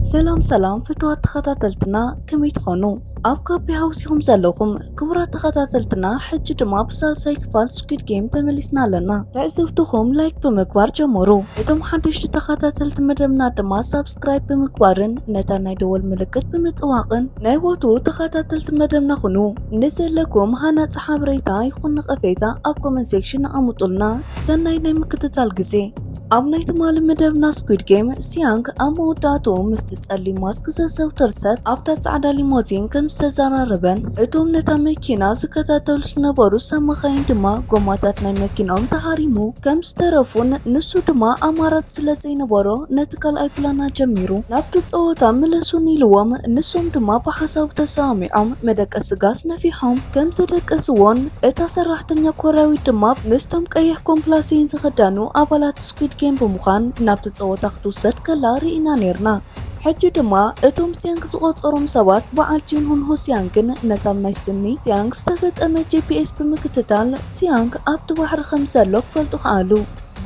ሰላም ሰላም ፍትዋት ተኸታተልትና ከመይ ትኾኑ? ኣብ ካፔ ሃውሲኹም ዘለኹም ክቡራት ተኸታተልትና ሕጂ ድማ ብሳልሳይ ክፋል ስኩድ ጌም ተመሊስና ኣለና። ትዕዝብትኹም ላይክ ብምግባር ጀመሩ። እቶም ሓደሽቲ ተኸታተልቲ መደብና ድማ ሳብስክራይብ ብምግባርን ነታ ናይ ደወል ምልክት ብምጥዋቕን ናይ ወትሩ ተኸታተልቲ መደብና ኩኑ። ንዘለኩም ሃናጺ ሓበሬታ ይኹን ነቐፌታ ኣብ ኮመንት ሴክሽን ኣቐምጡልና። ሰናይ ናይ ምክትታል ግዜ። ኣብ ናይ ትማሊ መደብና ስኩድ ጌም ሲያንግ ኣብ መወዳእትኡ ምስቲ ጸሊም ማስክ ዘዘውትር ሰብ ኣብታ ጻዕዳ ሊሞዚን ከም ዝተዘራረበን እቶም ነታ መኪና ዝከታተሉ ዝነበሩ ሰብ መኻይን ድማ ጎማታት ናይ መኪናኦም ተሃሪሙ ከም ዝተረፉን ንሱ ድማ ኣማራጽ ስለ ዘይነበሮ ነቲ ካልኣይ ፕላና ጀሚሩ ናብቲ ጸወታ ምለሱን ኢልዎም ንሶም ድማ ብሓሳቡ ተሰማሚዖም መደቀሲ ጋስ ነፊሖም ከም ዘደቀስዎን እታ ሰራሕተኛ ኮርያዊት ድማ ምስቶም ቀይሕ ኮምፕላሴን ዝተኸደኑ ኣባላት ስኲድ ጌም ብምዃን ናብቲ ጸወታ ክትውሰድ ከላ ርኢና ኔርና። ሕጂ ድማ እቶም ጺያንግ ዝቖጸሮም ሰባት በዓል ጂንሁንሆ ሲያንግን ነታብ ናይ ስኒ ሲያንግ ዝተገጠመ ጂፒኤስ ብምክትታል ሲያንግ ኣብቲ ባሕሪ ከም ዘሎ ክፈልጡ ከኣሉ።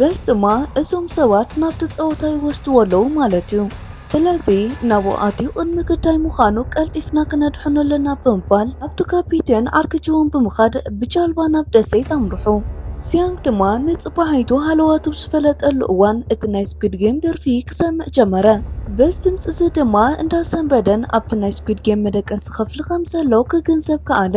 በዚ ድማ እዞም ሰባት ናብቲ ጸወታ ይወስድዎ ኣለዉ ማለት'ዩ። ስለዚ ናብኡ ኣትዩ ቅድሚ ግዳይ ምዃኑ ቀልጢፍና ክነድሕኖ ኣለና ብምባል ናብቱ ካፒቴን ኣርክጅዎን ብምኻድ ብጃልባ ናብ ደሴት ኣምርሑ። ሲያንግ ድማ ንጽባሒቱ ሃለዋቱ ብዝፈለጠሉ እዋን እቲ ናይ ስኲድ ጌም ደርፊ ክሰምዕ ጀመረ። በዚ ድምጺ'ዚ ድማ እንዳሰንበደን ኣብቲ ናይ ስኲድ ጌም መደቀሲ ኽፍሊ ኸም ዘሎ ክግንዘብ ከኣለ።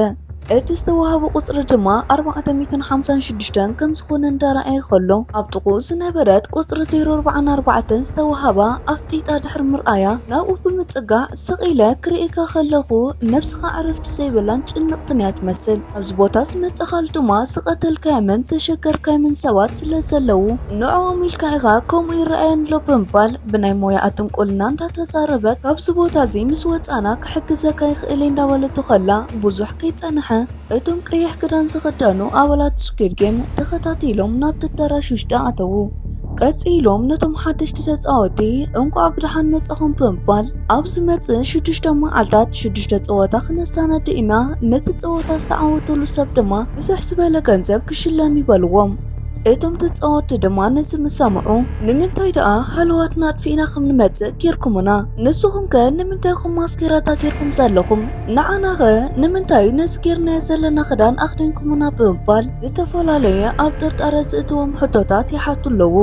እቲ ዝተዋህቦ ቍጽሪ ድማ ኣርባዕተ ሚእትን ሓምሳን ሽዱሽተን ከም ዝዀነ እንዳ ረኣየ ኸሎ፣ ኣብ ጥቕኡ ዝነበረት ቍጽሪ ዜሮ ኣርባዓን ኣርባዕተን ዝተዋህባ ኣፍጢጣ ድሕሪ ምርኣያ፣ ናብኡ ብምጽጋዕ፣ ስቕ ኢለ ክርእየካ ኸለኹ፣ ነፍስኻ ዕረፍቲ ዘይብላን ጭንቕትን እያ ትመስል። ኣብዚ ቦታ ዝመጸኻሉ ድማ ዝቐተልካዮምን ዘሸገርካዮምን ሰባት ስለ ዘለዉ፣ ንዕኦም ኢልካ ኢኻ ከምኡ ይረኣየኒ ኣሎ ብምባል፣ ብናይ ሞያኣ ጥንቁልና እንዳተዛረበት ካብዚ ቦታ እዚ ምስ ወጻእና ክሕግዘካ ይኽእል እየ እንዳበለቶ ከላ ብዙሕ ከይጸንሐ እቶም ቀይሕ ክዳን ዝኽደኑ ኣባላት ስኲድ ጌም ተኸታቲሎም ናብቲ ኣዳራሽ ውሽጢ ኣተዉ። ቀጺሎም ነቶም ሓደሽቲ ተጻወቲ እንቋዕ ብደሓን መጻኹም ብምባል ኣብ ዝመጽእ ሽዱሽተ መዓልታት ሽዱሽተ ጸወታ ክነሰናድእ ኢና፣ ነቲ ጸወታ ዝተዓወተሉ ሰብ ድማ ብዝሕ ዝበለ ገንዘብ ክሽለም እዩ በልዎም። እቶም ተጻወቲ ድማ ነዚ ምስ ሰምዑ ንምንታይ ደኣ ሃለዋትና ኣጥፊእና ከም ንመጽእ ጌርኩምና? ንስኹም ከ ንምንታይ ኹም ማስኬራታ ጌርኩም ዘለኹም? ንዓና ኸ ንምንታይ ነዚ ጌርናዮ ዘለና ክዳን ኣኽዲንኩምና? ብምባል ዝተፈላለየ ኣብ ጥርጣረ ዝእትዎም ሕቶታት ይሓቱ ኣለዉ።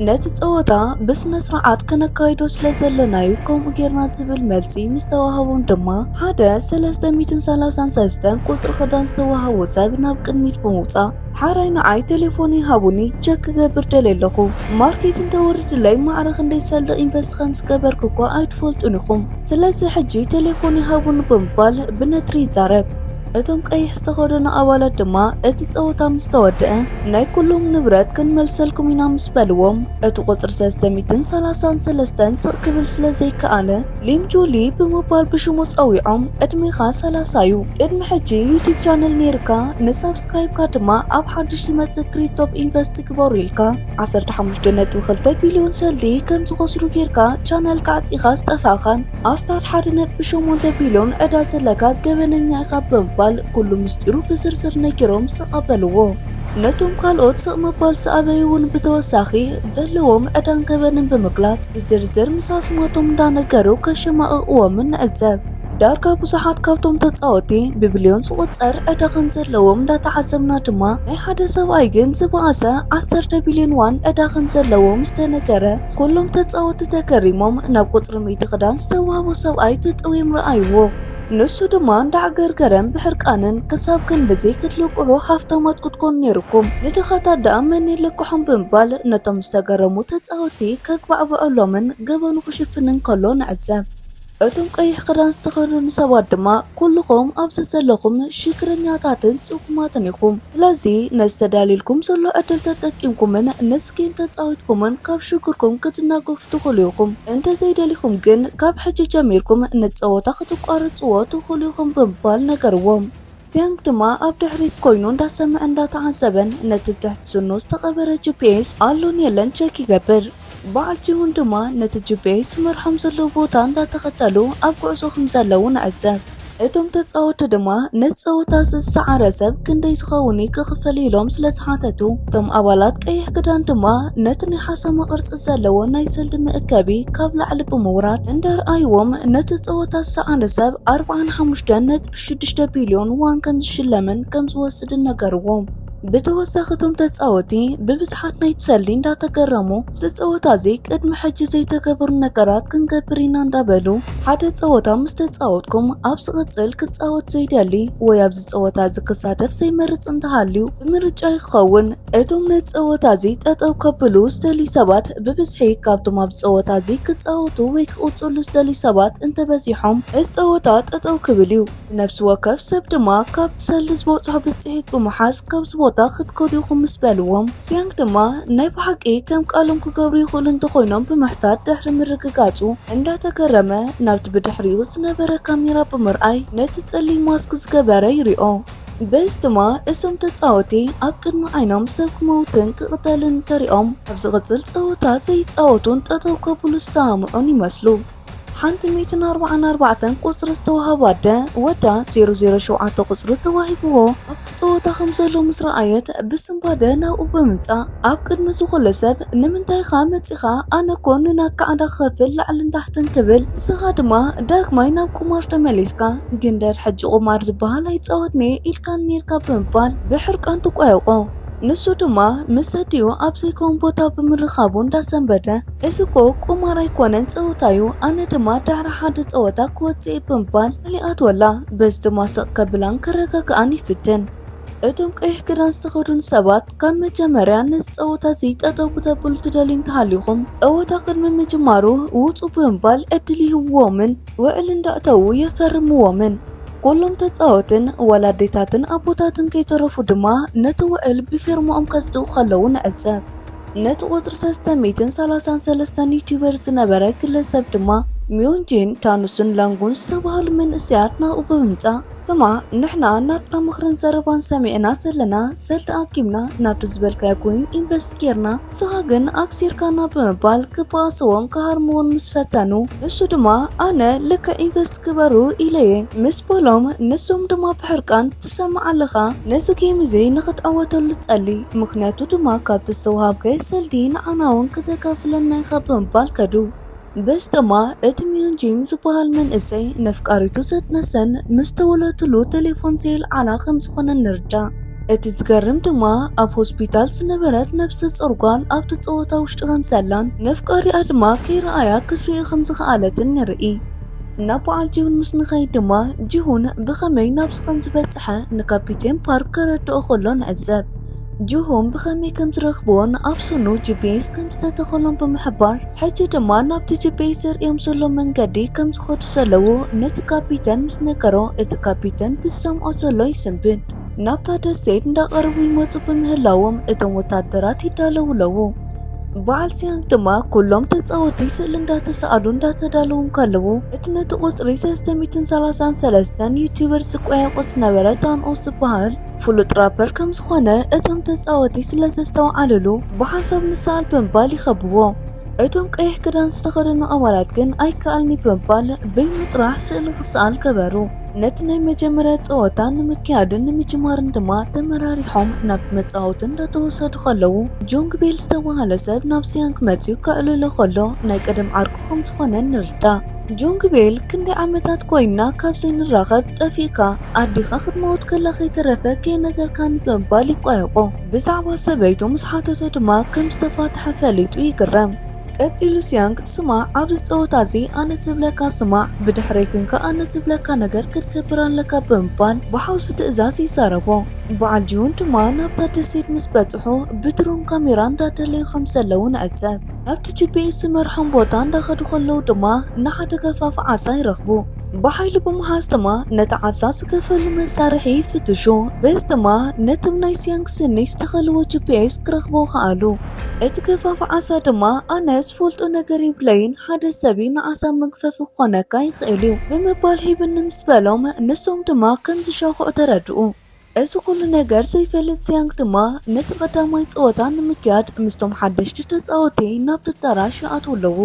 ነቲ ጸወታ ብስነ ስርዓት ከነካይዶ ስለ ዘለና'ዩ ከምኡ ጌርና ዝብል መልሲ ምስ ተዋህቦም ድማ ሓደ ሰለስተ ሚእትን ሰላሳን ሰልስተን ቁጽሪ ክዳን ዝተዋህቦ ሰብ ናብ ቅድሚት ብምውጻእ ሓራይ ንዓይ ቴሌፎነይ ሃቡኒ ቸክ ክገብር ደልየ ኣለኹ ማርኬት እንተወርድለይ ማዕረ ክንደይ ሰልዲ ኢንቨስት ከም ዝገበርኩ እኳ ኣይትፈልጡን ኢኹም ስለዚ ሕጂ ቴሌፎነይ ሃቡኒ ብምባል ብነትሪ ይዛረብ እቶም ቀይሕ ዝተኸደኑ ኣባላት ድማ እቲ ጸወታ ምስ ተወድአ ናይ ኩሎም ንብረት ክንመልሰልኩም ኢና ምስ በልዎም እቲ ቁጽሪ ሰለስተ ሚእትን ሰላሳን ሰለስተን ስቕ ክብል ስለ ዘይከኣለ ሊም ጁሊ ብምባል ብሽሙ ጸዊዖም ዕድሜኻ ሰላሳ እዩ ቅድሚ ሕጂ ዩቱብ ቻነል ነይርካ ንሳብ ሳብስክራይብካ ድማ ኣብ ሓድሽ ዝመጽእ ክሪፕቶ ኢንቨስት ግበሩ ኢልካ 15.2 ቢልዮን ሰልዲ ከም ዝኸስሩ ጌርካ ቻነልካ ኣዕጺኻ ዝጠፋእኻን ኣስታት 1.8 ቢልዮን ዕዳ ዘለካ ገበነኛ ኢኻ ብምባል ኩሉ ምስጢሩ ብዝርዝር ነጊሮም ስቕ ኣበልዎ። ነቶም ካልኦት ስቕ ምባል ዝኣበዩ እውን ብተወሳኺ ዘለዎም ዕዳን ገበንን ብምግላጽ ብዝርዝር ምስ ኣስማቶም እንዳነገሩ ከሸማቕቕዎምን ንዕዘብ። ዳርጋ ብዙሓት ካብቶም ተጻወቲ ብብልዮን ዝቑጸር ዕዳ ከም ዘለዎም እንዳተዓዘብና ድማ ናይ ሓደ ሰብኣይ ግን ዝበኣሰ ዓሰርተ ቢልዮን ዋን ዕዳ ከም ዘለዎ ምስ ተነገረ ኩሎም ተጻወቲ ተገሪሞም ናብ ቁጽሪ ሚእቲ ክዳን ዝተዋህቦ ሰብኣይ ተጠውዮም ረኣይዎ። ንሱ ድማ እንዳዕገርገረን ብሕርቃንን ክሳብ ክንዲ ዘይክትልቅሑ ሃፍታማት ክትኮኑ ኔሩኩም ንድኻታት ደኣ መን ይልቅሖም ብምባል ነቶም ዝተገረሙ ተጻወቲ ከግባዕብዐሎምን ገበኑ ክሽፍንን ከሎ ንዕዘብ። እቶም ቀይሕ ክዳን ዝተኸደኑ ሰባት ድማ ኩሉኹም ኣብዚ ዘለኹም ሽግረኛታትን ጽጉማትን ኢኹም። ስለዚ ነዚ ተዳልዩልኩም ዘሎ ዕድል ተጠቂምኩምን ምስ ጌም ተጻዊትኩምን ካብ ሽግርኩም ክትናገፉ ትኽእሉ ኢኹም። እንተ ዘይደሊኹም ግን ካብ ሕጂ ጀሚርኩም ንጸወታ ከተቋርጽዎ ትኽእሉ ኢኹም ብምባል ነገርዎም። ዚያንግ ድማ ኣብ ድሕሪት ኮይኑ እንዳሰምዐን እንዳተዓዘበን ነቲ ብትሕቲ ስኑ ዝተቐበረ ጂፒኤስ ኣሎን የለን ቸክ ይገብር። በዓል ቲሁን ድማ ነቲ ጂፒኤስ ዝመርሖም ዘሎ ቦታ እንዳተኸተሉ ኣብ ጉዕዞ ከምዘለዉ ንዕዘብ። እቶም ተጻወቲ ድማ ነቲ ጸወታ'ዚ ዝሰዓረ ሰብ ክንደይ ዝኸውን እዩ ክኽፈል ኢሎም ስለዝሓተቱ፣ እቶም ኣባላት ቀይሕ ክዳን ድማ ነቲ ናይ ሓሰማ ቅርጺ ዘለዎ ናይ ሰልዲ መእከቢ ካብ ላዕሊ ብምውራድ እንዳርኣይዎም ነቲ ጸወታ ዝሰዓረ ሰብ ኣርብዓን ሓሙሽተን ነጥቢ ሽዱሽተ ቢልዮን ዎን ከምዝሽለምን ከምዝወስድን ነገርዎ። ብተወሳኺ እቶም ተጻወቲ ብብዝሓት ናይቲ ሰልዲ እንዳተገረሙ እዚ ጸወታ እዚ ቅድሚ ሕጂ ዘይተገበሩ ነገራት ክንገብር ኢና እንዳበሉ ሓደ ጸወታ ምስ ተጻወትኩም ኣብ ዝቕጽል ክጻወት ዘይደሊ ወይ ኣብዚ ጸወታ እዚ ክሳተፍ ዘይመርጽ እንተሃልዩ ብምርጫ ይኸውን እቶም ነቲ ጸወታ እዚ ጠጠው ከብሉ ዝደልዩ ሰባት ብብዝሒ ካብቶም ኣብዚ ጸወታ እዚ ክጻወቱ ወይ ክቕጽሉ ዝደልዩ ሰባት እንተበዚሖም፣ እዚ ጸወታ ጠጠው ክብል እዩ። ንነፍሲ ወከፍ ሰብ ድማ ካብቲ ሰልዲ ዝበጽሖ ብጽሒት ብምሓዝ ካብዚ ቦታ ክትከዱ ኢኹም ምስ በልዎም፣ ሲያንግ ድማ ናይ ብሓቂ ከም ቃሎም ክገብሩ ይኽእሉ እንተኾይኖም ብምሕታት ድሕሪ ምርግጋጹ እንዳተገረመ ናብቲ ብድሕሪኡ ዝነበረ ካሜራ ብምርኣይ ነቲ ጸሊም ማስክ ዝገበረ ይሪኦ። በዚ ድማ እዞም ተጻወቲ ኣብ ቅድሚ ዓይኖም ሰብ ክመውትን ክቕተልን እንተሪኦም ኣብ ዝቕጽል ጸወታ ዘይጻወቱን ጠጠው ከብሉ ዝሰማምዑን ይመስሉ። ሓንቲ ሚእትን ኣርባዓን ኣርባዕተን ቁጽሪ ዝተዋህባ ኣደ ወዳ ዜሮ ዜሮ ሸውዓተ ቁጽሪ ተዋሂብዎ ኣብቲ ጸወታ ከም ዘሎ ምስ ረኣየት ብስንባደ ናብኡ ብምምጻእ ኣብ ቅድሚ ዝኹሉ ሰብ ንምንታይ ኢኻ መጺኻ ኣነ እኮ ንናትካ ዕዳ ክኸፍል ላዕልን ታሕትን ክብል ንስኻ ድማ ዳግማይ ናብ ቁማር ተመሊስካ ግንደር ሕጂ ቁማር ዝበሃል ኣይጻወትንየ ኢልካን ኔርካ ብምባል ብሕርቃን ትቋየቖ ንሱ ድማ ምስ ኣዲኡ ኣብ ዘይከውን ቦታ ብምርኻቡ እንዳሰንበደ እዚ እኮ ቁማር ኣይኮነን ጸወታ እዩ ኣነ ድማ ድሕሪ ሓደ ጸወታ ክወጽእ እየ ብምባል ቃል ይኣትወላ በዚ ድማ ስቕ ከብላን ከረጋግኣን ይፍትን እቶም ቀይሕ ክዳን ዝተኸዱን ሰባት ካብ መጀመርያ ነዚ ጸወታ እዚ ጠጠው ክተብሉ ትደልዩ እንተሃሊኹም ጸወታ ቅድሚ ምጅማሩ ውጹ ብምባል ዕድል ይህብዎምን ውዕል እንዳእተዉ የፈርምዎምን። ኩሎም ተጻወትን ዋላ ኣዴታትን ኣቦታትን ከይተረፉ ድማ ነቲ ውዕል ብፊርምኦም ከጽድቁ ከለዉ ንዕዘብ። ነቲ ቁጽሪ ሰለስተ ሚእትን ሰላሳን ሰለስተን ዩቱበር ዝነበረ ግለሰብ ድማ ሚዮንጂን፣ ታኑስን ላንጉን ዝተባህሉ መንእሰያት ናብኡ ብምምጻእ፣ ስማዕ ንሕና ናትና ምኽርን ዘረባን ሰሚዕና ዘለና ሰል ተኣኪብና ናብቲ ዝበልካዮ ኮይን ኢንቨስት ጌርና ንስኻ ግን ኣክሲርካና ብምባል ክበኣስዎን ክሃርምዎን ምስ ፈተኑ ንሱ ድማ ኣነ ልክዕ ኢንቨስት ግበሩ ኢለየ ምስ በሎም ንሶም ድማ ብሕርቃን ትሰምዕ ኣለኻ ነዚ ጌም እዚ ንኽትዕወተሉ ጸሊ ምኽንያቱ ድማ ካብቲ ዝተውሃብከ ሰልዲ ንዓናውን ክተካፍለና ኢኻ ብምባል ከዱ። በስተማ እቲ ሚዮን ጂም ዝበሃል መንእሰይ ነፍቃሪቱ ዘጥነሰን ምስ ተወለትሉ ቴሌፎን ዘየልዓላ ከም ዝኾነን ንርዳእ። እቲ ዝገርም ድማ ኣብ ሆስፒታል ዝነበረት ነብሰ ጾር ጓል ኣብቲ ጸወታ ውሽጢ ከም ዘላን ነፍቃሪኣ ድማ ከይረኣያ ክትርኢ ከም ዝኸኣለትን ንርኢ። ናብ በዓል ጂሁን ምስ ንኸይድ ድማ ጂሁን ብኸመይ ናብዚ ከም ዝበጸሐ ንካፒቴን ፓርክ ከረድኦ ከሎ ንዕዘብ። ጅሆም ብኸመይ ከም ዝረኽብዎን ኣብ ስኑ ጂፒኤስ ከም ዝተተኸሎም ብምሕባር ሕጂ ድማ ናብቲ ጂፒኤስ ዘርእዮም ዘሎ መንገዲ ከም ዝኸዱ ዘለዉ ነቲ ካፒተን ምስ ነገሮ እቲ ካፒተን ብዝሰምዖ ዘሎ ይስንብድ ናብታ ደሴት እንዳቐረቡ ይመፁ ብምህላዎም እቶም ወታደራት ይዳለዉ ኣለዉ። በዓል ሲያንግ ድማ ኩሎም ተጻወቲ ስእሊ እንዳተሰኣሉ እንዳተዳለዉ እንከለዉ እቲ ነቲ ቁጽሪ ሰለስተ ሚእትን ሰላሳን ሰለስተን ዩቲዩበርስ ዝቆያቆጽ ዝነበረ ታንኦስ ዝበሃል ፍሉጥ ራፐር ከም ዝኾነ እቶም ተጻወቲ ስለ ዘስተውዓልሉ ብሓንሳብ ምሰኣል ብምባል ይኸብዎ። እቶም ቀይሕ ክዳን ዝተኸደኑ ኣባላት ግን ኣይከኣልን'ዩ ብምባል በይኑ ጥራሕ ስእሊ ክሰኣል ገበሩ። ነቲ ናይ መጀመርያ ጸወታ ንምክያድን ንምጅማርን ድማ ተመራሪሖም ናብቲ መጻወቲ እንዳተወሰዱ ከለዉ ጆንግ ቤል ዝተባህለ ሰብ ናብ ሲያንግ መጺኡ ከዕልሎ ከሎ ናይ ቀደም ዓርኩ ከም ዝኾነ ንርዳእ። ጆንግ ቤል ክንደይ ዓመታት ኮይንና ካብ ዘይንራኸብ ጠፊእካ? ኣዴኻ ክትመውት ከላ ከይተረፈ ከይነገርካኒ ብምባል ይቋየቖ። ብዛዕባ ሰበይቱ ምስ ሓተቶ ድማ ከም ዝተፋትሐ ፈሊጡ ይግረም። ቀጺሉ ሲያንግ፣ ስማዕ፣ ኣብዚ ጸወታ እዚ ኣነ ዝብለካ ስማዕ፣ ብድሕረይ ኲንካ ኣነ ዝብለካ ነገር ክትገብር ኣለካ ብምባል ብሓውሲ ትእዛዝ ይዛረቦ። በዓል ጂሁን ድማ ናብታ ደሴት ምስ በጽሑ ብድሮን ካሜራ እንዳደለዩ ከም ዘለዉ ንዕዘብ። ናብቲ ጂፒኤስ ዝመርሖም ቦታ እንዳኸዱ ከለዉ ድማ ንሓደ ገፋፊ ዓሳ ይረኽቡ። ብሓይሊ ብምሓዝ ድማ ነቲ ዓሳ ዝከፈሉ መሳርሒ ይፍትሹ። በዚ ድማ ነቶም ናይ ሲያንግ ስኒ ዝተኸልዎ ጂፒኤስ ክረኽቡ ከኣሉ። እቲ ገፋፊ ዓሳ ድማ ኣነ ዝፈልጦ ነገር የብለይን፣ ሓደ ሰብ'ዩ ንዓሳ መግፈፊ ክኾነካ ይኽእል'ዩ ብምባል ሂብኒ ምስ በሎም ንሶም ድማ ከም ዝሻኹዑ ተረድኡ። እዚ ኩሉ ነገር ዘይፈልጥ ዚያንግ ድማ ነቲ ቀዳማይ ጸወታ ንምክያድ ምስቶም ሓደሽቲ ተጻወቲ ናብቲ ኣዳራሽ ይኣትዉ ኣለዉ።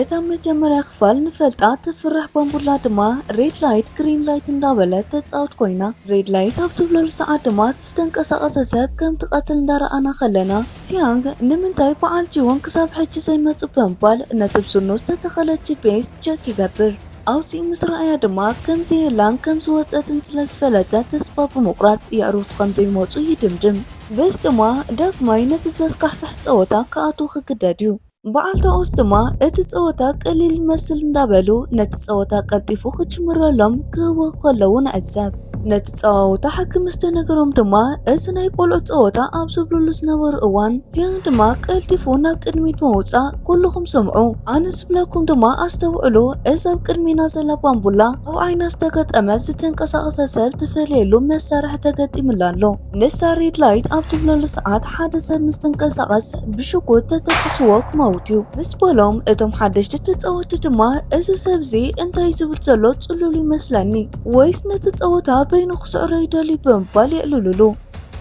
እታ መጀመርያ ክፋል ንፈልጣ ተፍርሕ ባምቡላ ድማ ሬድ ላይት ግሪን ላይት እንዳበለት ተጻውት ኮይና። ሬድ ላይት ኣብ ትብለሉ ሰዓት ድማ እቲ ዝተንቀሳቐሰ ሰብ ከም ትቐትል እንዳረኣና ከለና ዚያንግ ንምንታይ በዓል ጂዎንግ ክሳብ ሕጂ ዘይመጹ ብምባል ነቲ ብስኑ ዝተተኸለ ጂፔስ ቸክ ይገብር። ኣውጺኡ ምስ ረኣያ ድማ ከምዘየላን ከም ዝወጸትን ስለ ዝፈለጠ ተስፋ ብምቑራጽ የዕሩኽቱ ከም ዘይመጹ ይድምድም። በዚ ድማ ዳግማይ ነቲ ዘስካሕክሕ ጸወታ ክኣትው ክግደድ እዩ። በዓልቲ ኦስ ድማ እቲ ጸወታ ቀሊል ይመስል እንዳበሉ ነቲ ጸወታ ቀልጢፉ ክጅምረሎም ክህውኹ ከለዉ ንዕዘብ። ነቲ። ጸዋውታ ሓኪም ምስ ተነገሮም ድማ እዚ ናይ ቆልዑት ጸወታ ኣብ ዝብልሉ ዝነበሩ እዋን ዚያን ድማ ቀልጢፉ ናብ ቅድሚት ብምውጻእ ኩልኹም ስምዑ ኣነ ዝብለኩም ድማ ኣስተውዕሉ እዚ ኣብ ቅድሜና ዘላ ባምቡላ ኣብ ዓይና ዝተገጠመ ዝተንቀሳቐሰ ሰብ ትፈልየሉ መሳርሒ ተገጢምላ ኣሎ ንሳ ሬድ ላይት ኣብ ትብለሉ ሰዓት ሓደ ሰብ ምስ ትንቀሳቐስ ብሽጉጥ ተተኩስዎ ክመውት እዩ ምስ በሎም እቶም ሓደሽቲ ተጻወቲ ድማ እዚ ሰብዚ እንታይ ዝብል ዘሎ ጽሉል ይመስለኒ ወይስ ነቲ ጸወታ በይኑ ክስዕሮ ይደልዩ ብምባል የዕልሉሉ።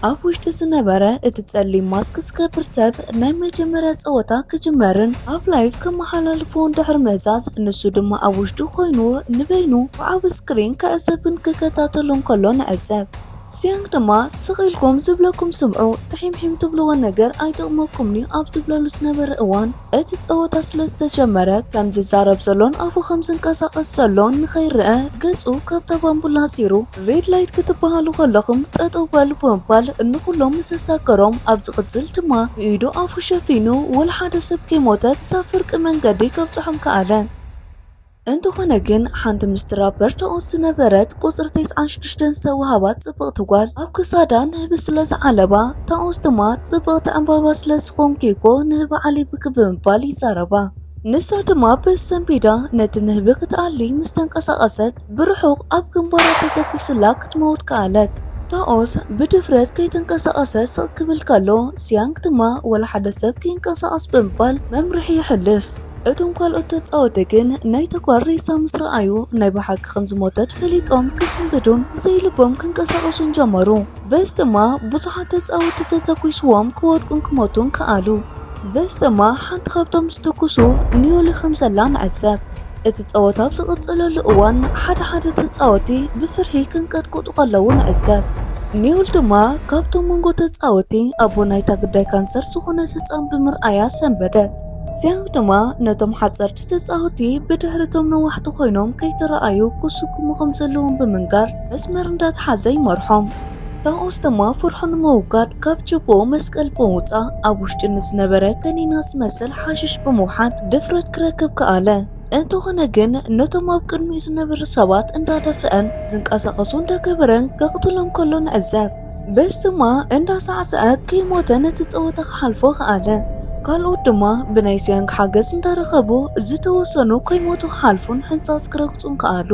ኣብ ውሽጢ ዝነበረ እቲ ጸሊም ማስክ ዝገብር ሰብ ናይ መጀመርያ ጸወታ ክጅመርን ኣብ ላይቭ ከመሓላልፎን ድሕሪ ምህሳስ ንሱ ድማ ኣብ ውሽጡ ኮይኑ ንበይኑ ብዓቢ ስክሪን ክዕዘብን ክከታተሎን ከሎ ንዕዘብ። ሲያንግ ድማ ስቕ ኢልኩም ዝብለኩም ስምዑ፣ ትሒምሒም ትብልዎ ነገር ኣይጠቕመኩምን'ዩ ኣብ ዝብለሉ ዝነበረ እዋን፣ እቲ ጸወታ ስለ ዝተጀመረ ከም ዝዛረብ ዘሎን ኣፉ ከም ዝንቀሳቐስ ዘሎን ንኸይረኣ ገጹ ካብታ ባምቡላ ኣጺሩ ሬድ ላይት ክትበሃሉ ከለኹም ጠጠው በሉ ብምባል ንኹሎም ምስ ኣሳገሮም ኣብ ዝቕጽል ድማ ብኢዱ ኣፉ ሸፊኑ ወላ ሓደ ሰብ ከይሞተ ክሳብ ፍርቂ መንገዲ ከብጽሖም ከኣለ። እንተኾነ ግን ሓንቲ ምስቲ ራበር ተኦት ዝነበረት ቁጽሪ ተስዓን ሽዱሽተን ዝተዋህባት ጽብቕቲ ጓል ኣብ ክሳዳ ንህቢ ስለ ዝዓለባ፣ ተኦት ድማ ጽብቕቲ ዕምባባ ስለ ዝኾንኪ'ኮ ንህቢ ዓሊብኪ ብምባል ይዛረባ። ንሳ ድማ ብሰንቢዳ ነቲ ንህቢ ክትኣሊ ምስ ተንቀሳቐሰት ብርሑቕ ኣብ ግንባራ ተተኲሱላ ክትመውት ከኣለት። ተኦት ብድፍረት ከይተንቀሳቐሰ ስቕ ክብል ከሎ፣ ስያንግ ድማ ወላ ሓደ ሰብ ከይንቀሳቐስ ብምባል መምርሒ የሕልፍ። እቶም ካልኦት ተጻወቲ ግን ናይ ተግባር ሬሳ ምስ ረኣዩ ናይ ብሓቂ ከም ዝሞተት ፈሊጦም ክስንብዱን ዘይልቦም ክንቀሳቐሱን ጀመሩ። በዚ ድማ ብዙሓት ተጻወቲ ተተኲስዎም ክወድቁን ክሞቱን ከኣሉ። በዚ ድማ ሓንቲ ካብቶም ዝትኩሱ ኒዮሊ ከም ዘላ ንዕዘብ። እቲ ጸወታ ኣብ ዝቕጽለሉ እዋን ሓደ ሓደ ተጻወቲ ብፍርሒ ክንቀጥቁጡ ከለዉ ንዕዘብ። ኒዮል ድማ ካብቶም መንጎ ተጻወቲ ኣቦ ናይታ ግዳይ ካንሰር ዝኾነት ህጻን ብምርኣያ ሰንበደት። እዚኣም ድማ ነቶም ሓጸርቲ ተጻወቲ ብድሕሪቶም ነዋሕቲ ኮይኖም ከይተረኣዩ ክስጉሙ ከም ዘለዎም ብምንጋር መስመር እንዳተሓዘ ይመርሖም። ካብኡስ ድማ ፍርሑ ንምውጋድ ካብ ችቦኡ መስቀል ብምውጻእ ኣብ ውሽጢ ንዝነበረ ከኒና ዝመስል ሓሽሽ ብምውሓጥ ድፍረት ክረክብ ከኣለ። እንተኾነ ግን ነቶም ኣብ ቅድሚኡ ዝነበሩ ሰባት እንዳደፍአን ዝንቀሳቐሱ እንዳገበረን ከቕትሎም ከሎ ንዕዘብ። በስቲማ እንዳሳዕሰዐ ከይሞተ ነቲ ጸወታ ክሓልፎ ከኣለ። ካልኦት ድማ ብናይ ሲያንግ ሓገዝ እንዳረኸቡ ዝተወሰኑ ከይሞቱ ክሓልፉን ሕንጻጽ ክረግጹን ከኣሉ።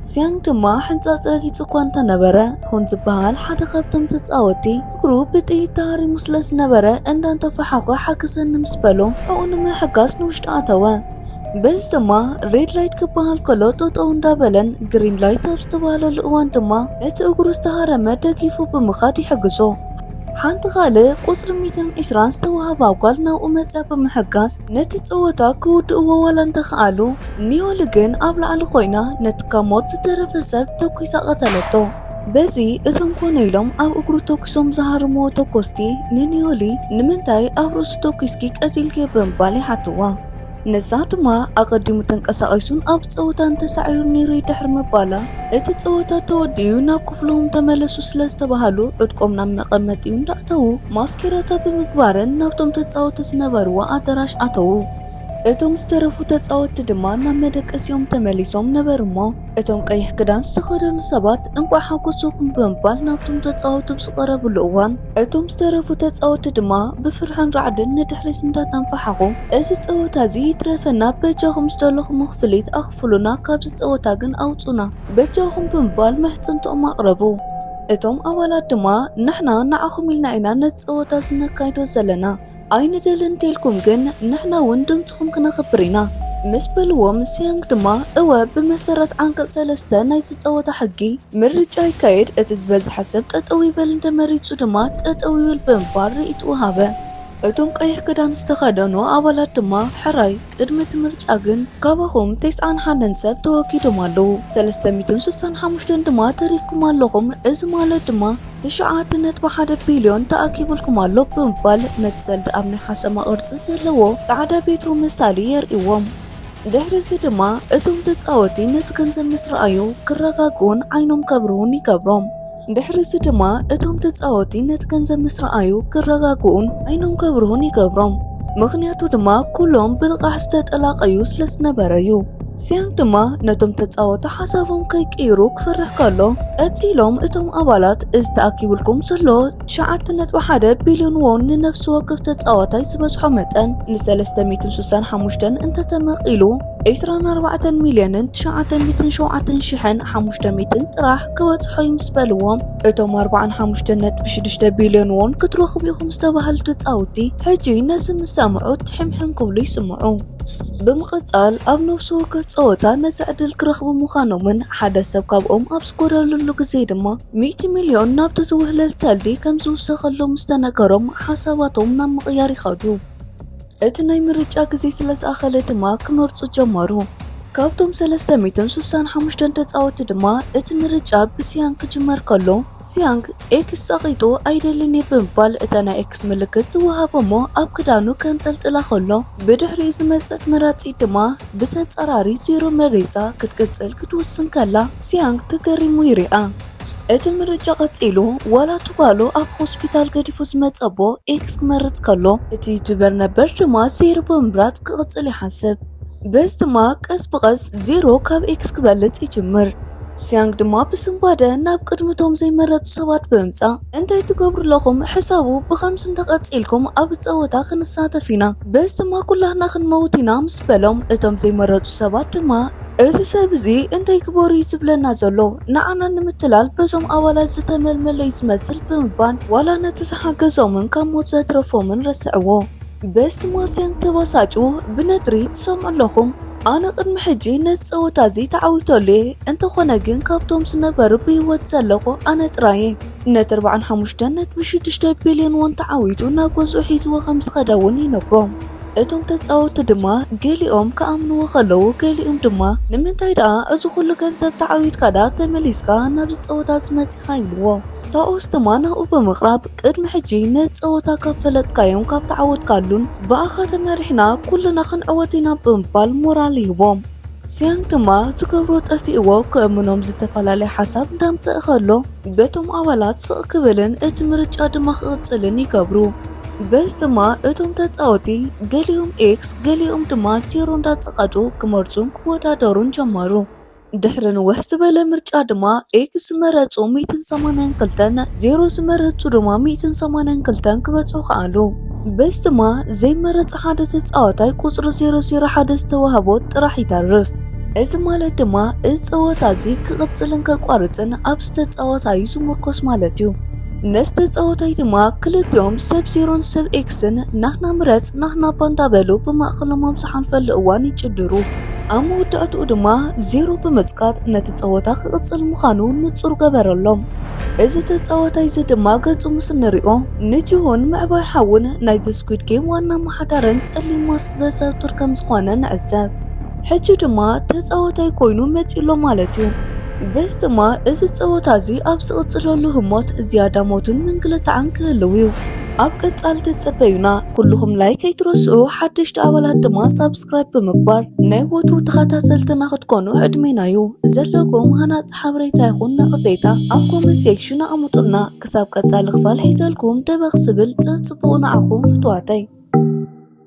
ሲያንግ ድማ ሕንጻጽ ረጊጹ እኳ እንተነበረ፣ ሁን ዝበሃል ሓደ ካብቶም ተጻወትቲ እግሩ ብጥይት ተሃሪሙ ስለዝነበረ እንዳንተፋሓዀ ሓግዘኒ ምስ በሎ ሕቖኡ ንምሕጋዝ ንውሽጢ ኣተወ። በዚ ድማ ሬድ ላይት ክበሃል ከሎ ጠጠው እንዳበለን ግሪን ላይት ኣብ ዝተባህለሉ እዋን ድማ ነቲ እግሩ ዝተሃረመ ደጊፉ ብምኻድ ይሕግዞ። ሓንቲ ካልእ ቁጽሪ ሚእትን ዒስራን ዝተዋህባ ጓል ናብኡ መጺኣ ብምሕጋዝ ነቲ ጸወታ ክውድእዎ ዋላ እንተኸኣሉ፣ ኒዮሊ ግን ኣብ ላዕሊ ኮይና ነቲ ካብ ሞት ዝተረፈ ሰብ ተኲሳ ቀተለቶ። በዚ እቶም ኮነ ኢሎም ኣብ እግሩ ተኩሶም ዝሃርምዎ ተኮስቲ ንኒዮሊ ንምንታይ ኣብ ርእሱ ተኩስኪ ቀቲልክዮ ብምባል ይሓትዋ። ንሳ ድማ ኣቐዲሙ ተንቀሳቒሱን ኣብ ጸወታን ተሳዒሩን ነይሩ'ዩ ድሕሪ ምባላ እቲ ጸወታ ተወዲኡ'ዩ ናብ ክፍሎም ተመለሱ ስለዝተባሃሉ ዕጥቆም ናብ መቐመጢኡ እንዳእተዉ ማስኬራታ ብምግባረን ናብቶም ተጻወቲ ዝነበርዎ ኣደራሽ ኣተዉ። እቶም ዝተረፉ ተጻወቲ ድማ ናብ መደቀሲኦም ተመሊሶም ነበሩ'ሞ፣ እቶም ቀይሕ ክዳን ዝተኸደኑ ሰባት እንቋዕ ሓጎሰኩም ብምባል ናብቶም ተጻወቲ ብ ዝቐረብሉ እዋን እቶም ዝተረፉ ተጻወቲ ድማ ብፍርሕን ራዕድን ንድሕሪት እንዳተንፋሓኹ እዚ ጸወታ እዚ ይትረፈና በጃኹም ዝደለኹሞ ክፍሊት ኣኽፍሉና ካብዚ ጸወታ ግን ኣውጹና በጃኹም ብምባል ምሕጽንትኦም ኣቕረቡ። እቶም ኣባላት ድማ ንሕና ንዓኹም ኢልና ኢና ነቲ ጸወታ እዚ ነካይዶ ዘለና። ኣይንደልን እንተልኩም ግን ንሕና እውን ድምፅኹም ክነኽብር ኢና ምስ በልዎም ሲያንግ ድማ እወ ብመሰረት ዓንቀፅ ሰለስተ ናይቲ ፀወታ ሕጊ ምርጫ ይካየድ እቲ ዝበዝሐ ሰብ ጠጠው ይበል እንተመሪፁ ድማ ጠጠው ይበል ብምባል ርእይትኡ ሃበ። እቶም ቀይሕ ክዳን ዝተኸደኑ ኣባላት ድማ ሕራይ ቅድሚ እቲ ምርጫ ግን ካባኹም ተስዓን ሓደን ሰብ ተወጊዶም ኣለዉ፣ ሰለስተ ሚእትን ስሳን ሓሙሽተን ድማ ተሪፍኩም ኣለኹም፣ እዚ ማለት ድማ ትሽዓተ ነጥቢ ሓደ ቢልዮን ተኣኪቡልኩም ኣሎ ብምባል ነቲ ሰልዲ ኣብ ናይ ሓሰማ ቅርጺ ዘለዎ ጻዕዳ ቤትሮ መሳሊ የርእይዎም። ድሕሪ እዚ ድማ እቶም ተጻወቲ ነቲ ገንዘብ ምስ ረኣዩ ክረጋግኡን ዓይኖም ከብርሁን ይገብሮም። ድሕርዚ ድማ እቶም ተጻወቲ ነቲ ገንዘብ ምስ ረኣዩ ክረጋግኡን ዓይኖም ከብርሁን ይገብሮም። ምኽንያቱ ድማ ኩሎም ብልቓሕ ዝተጠላቐዩ ስለ ዝነበረ እዩ። ሲያንግ ድማ ነቶም ተጻወቲ ሓሳቦም ከይቅይሩ ክፈርሕ ከሎ፣ ቀጺሎም እቶም ኣባላት እዚ ተኣኪቡልኩም ዘሎ ትሽዓተ ነጥቢ ሓደ ቢልዮን ዎን ንነፍሲ ወከፍ ተጻዋታይ ዝበዝሖ መጠን ንሰለስተ ሚእትን ሱሳን ሓሙሽተን እንተተመቒሉ፣ ዕስራን ኣርባዕተን ሚልዮንን ትሽዓተ ሚእትን ሸውዓተን ሽሕን ሓሙሽተ ሚእትን ጥራሕ ክበጽሖ እዩ ምስ በልዎም እቶም ኣርባዓን ሓሙሽተን ነጥቢ ሽዱሽተ ቢልዮን እውን ክትረኽቡ ኢኹም ዝተባህሉ ተጻውቲ ሕጂ ነዚ ምስ ሰምዑ ትሕምሕም ክብሉ ይስምዑ። ብምቕጻል ኣብ ነብሲ ወከፍ ጸወታ ነዚ ዕድል ክረኽቡ ምዃኖምን ሓደ ሰብ ካብኦም ኣብ ዝጎደለሉ ግዜ ድማ ሚእቲ ሚልዮን ናብቲ ዝውህለል ሰልዲ ከም ዝውሰኸሎም ምስ ተነገሮም ሓሳባቶም ናብ ምቕያር ይኸዱ። እቲ ናይ ምርጫ ግዜ ስለ ዝኣኸለ ድማ ክመርጹ ጀመሩ። ካብቶም ሰለስተ ሚእትን ስሳን ሓሙሽተን ተጻወቲ ድማ እቲ ምርጫ ብሲያንግ ክጅመር ከሎ ሲያንግ ኤክስ ጸቒጡ ኣይደልን እየ ብምባል እታ ናይ ኤክስ ምልክት ትወሃቦ እሞ ኣብ ክዳኑ ከንጠልጥላ ከሎ ብድሕሪኡ ዝመጸት መራጺት ድማ ብተጻራሪ ዜሮ መሪጻ ክትቅጽል ክትውስን ከላ ሲያንግ ተገሪሙ ይሪኣ። እቲ ምርጫ ቀጺሉ፣ ዋላ እቲ ጓሉ ኣብ ሆስፒታል ገዲፉ ዝመጸ ኣቦ ኤክስ ክመርጽ ከሎ፣ እቲ ዩቱበር ነበር ድማ ዜሮ ብምምራጽ ክቕጽል ይሓስብ። በዚ ድማ ቀስ ብቐስ ዜሮ ካብ ኤክስ ክበልጽ ይጅምር። ሲያንግ ድማ ብስንባደ ናብ ቅድሚ እቶም ዘይመረጹ ሰባት ብምምጻእ እንታይ ትገብሩ ኣለኹም? ሕሰቡ፣ ብኸምዚ እንተ ቀጺልኩም ኣብዚ ጸወታ ክንሳተፍ ኢና፣ በዚ ድማ ኩላትና ክንመውት ኢና ምስ በሎም፣ እቶም ዘይመረጹ ሰባት ድማ። እዚ ሰብ እዚ እንታይ ግበሩ እዩ ዝብለና ዘሎ? ንዓና ንምትላል በዞም ኣባላት ዝተመልመለ እዩ ዝመስል ብምባል ዋላ ነቲ ዝሓገዞምን ካብ ሞት ዘትረፎምን ረስዕዎ። በስት ማስያንግ ተበሳጩ ብነትሪ ትሰምዑ ኣለኹም። ኣነ ቅድሚ ሕጂ ነዚ ጸወታ እዚ ተዓዊተሉ እየ፣ እንተኾነ ግን ካብቶም ዝነበሩ ብህይወት ዘለኹ ኣነ ጥራይ እየ። ነቲ ኣርብዓን ሓሙሽተን ነጥቢ ሽዱሽተ ቢልዮን ዎን ተዓዊቱ ናብ ገዝኡ ሒዝዎ ከም ዝኸደ እውን ይነግሮም። እቶም ተጻወትቲ ድማ ገሊኦም ክኣምንዎ ከለዉ ገሊኦም ድማ ንምንታይ ደኣ እዚ ኩሉ ገንዘብ ተዓዊትካ ደኣ ተመሊስካ ናብዚ ጸወታዚ መጺኻ ይብልዎ። ታኦስ ድማ ናብኡ ብምቕራብ ቅድሚ ሕጂ ነዚ ጸወታ ካብ ፈለጥካዮን ካብ ተዓወትካሉን ብኣኻ ተመሪሕና ኩልና ክንዕወት ኢና ብምባል ሞራል ይህቦም። ሲያንግ ድማ ዝገብሮ ጠፊእዎ ክእምኖም ዝተፈላለየ ሓሳብ እንዳምጸእ ከሎ በቶም ኣባላት ስቕ ክብልን እቲ ምርጫ ድማ ክቕጽልን ይገብሩ። በዚ ድማ እቶም ተጻወቲ ገሊኦም ኤክስ ገሊኦም ድማ ዜሮ እንዳጸቐጡ ክመርጹን ክወዳደሩን ጀመሩ። ድሕሪ ንውሕ ዝበለ ምርጫ ድማ ኤክስ ዝመረጹ ሚእትን ሰማንያን ክልተን ዜሮ ዝመረጹ ድማ ሚእትን ሰማንያን ክልተን ክበጽሑ ከኣሉ። በዚ ድማ ዘይመረጸ ሓደ ተጻዋታይ ቁጽሪ ዜሮ ዜሮ ሓደ ዝተዋህቦ ጥራሕ ይተርፍ። እዚ ማለት ድማ እዚ ጸወታ እዚ ክቕጽልን ከቋርጽን ኣብ ዝተጻወታ እዩ ዝምርኮስ ማለት እዩ። ምስ ተጻወታይ ድማ ክልቲኦም ሰብ ዜሮን ሰብ ኤክስን ናህና ምረጽ ናህና እባ እንዳበሉ ብማእከሎም ኣብ ዝሓልፈሉ እዋን ይጭድሩ። ኣብ መወዳእትኡ ድማ ዜሮ ብምጽቃጥ ነቲ ጸወታ ክቕጽል ምዃኑ ንጹር ገበረሎም። እዚ ተጻዋታይ እዚ ድማ ገጹ ምስ እንሪኦ ንጂሁን ምዕባይ ሓዉን ናይዚ ስኲድ ጌም ዋና ኣመሓዳርን ጸሊም ማስክ ዘዘውትር ከም ዝኾነ ንዕዘብ። ሕጂ ድማ ተጻወታይ ኮይኑ መጺኡ'ሎ ማለት'ዩ። በዚ ድማ እዚ ጸወታ'ዚ ኣብ ዝቕጽለሉ ህሞት ዝያዳ ሞትን ምንግልታዕን ክህልው'ዩ። ኣብ ቀጻሊ ተጸበዩና። ኩሉኹም ላይክ ኣይትረስዑ፣ ሓደሽቲ ኣባላት ድማ ሳብስክራይብ ብምግባር ናይ ወትሩ ተኸታተልትና ክትኮኑ ዕድሜና'ዩ። ዘለኩም ሃናጺ ሓበሬታ ይኹን ነቐፌታ ኣብ ኮመንት ሴክሽን ኣቐምጡልና። ክሳብ ቀጻሊ ክፋል ሒዘልኩም ደበኽ ዝብል ጽጽቡቑ ንዓኹም ፍቱዋተይ።